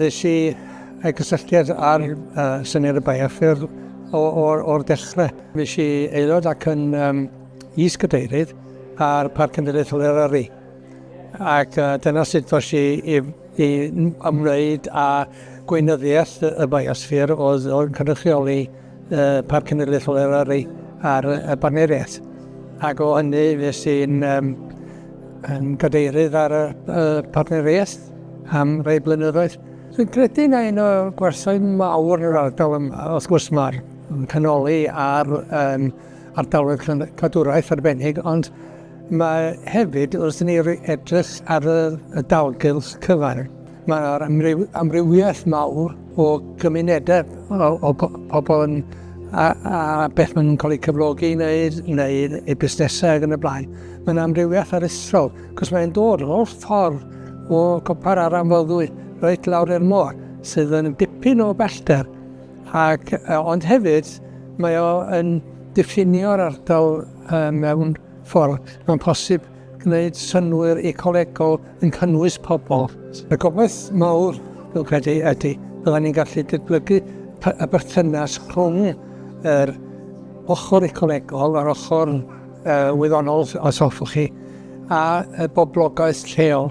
Nes i rhoi cysylltiad â'r syniad y bioffyrdd o'r dechrau. Fues i aelod ac yn is-gadeirydd ar Parc Cenedlaethol Eryri, ac dyna sut ddoes i i ymwneud â gweinyddiaeth y bioffyrdd oedd cynrychioli pa cenedlaethol yr ar ei ar y barneriaeth. Ac o hynny fes i'n um, yn gadeirydd ar y uh, partneriaeth am rei blynyddoedd. Dwi'n credu na un o'r gwerthau mawr yn yr ardal yma, wrth gwrs mae'r canoli ar um, ardaloedd cadwraeth arbennig, ond mae hefyd wrth ni edrych ar y, y dalgylch cyfan, Mae yna amryw, amrywiaeth mawr o gymunedau o, o pobl yn, a, a beth maen nhw'n cael eu cyflogi i wneud, neu eu busnesau ac yn y blaen. Mae yna amrywiaeth aruthrol, cos mae'n dod o'r holl ffordd o copar ar amfoddwy reit lawr i'r môr, sydd yn dipyn o bellter. Ac, ond hefyd, mae o yn diffinio'r ardal mewn ffordd. Mae'n posib gwneud synnwyr ecolegol yn cynnwys pobl. Y gobaith mawr, dwi'n credu, ydy byddwn ni'n gallu dyblygu y berthynas rhwng yr ochr ecolegol, yr ochr uh, wyddonol, os hoffwch chi, a y boblogaeth lleol.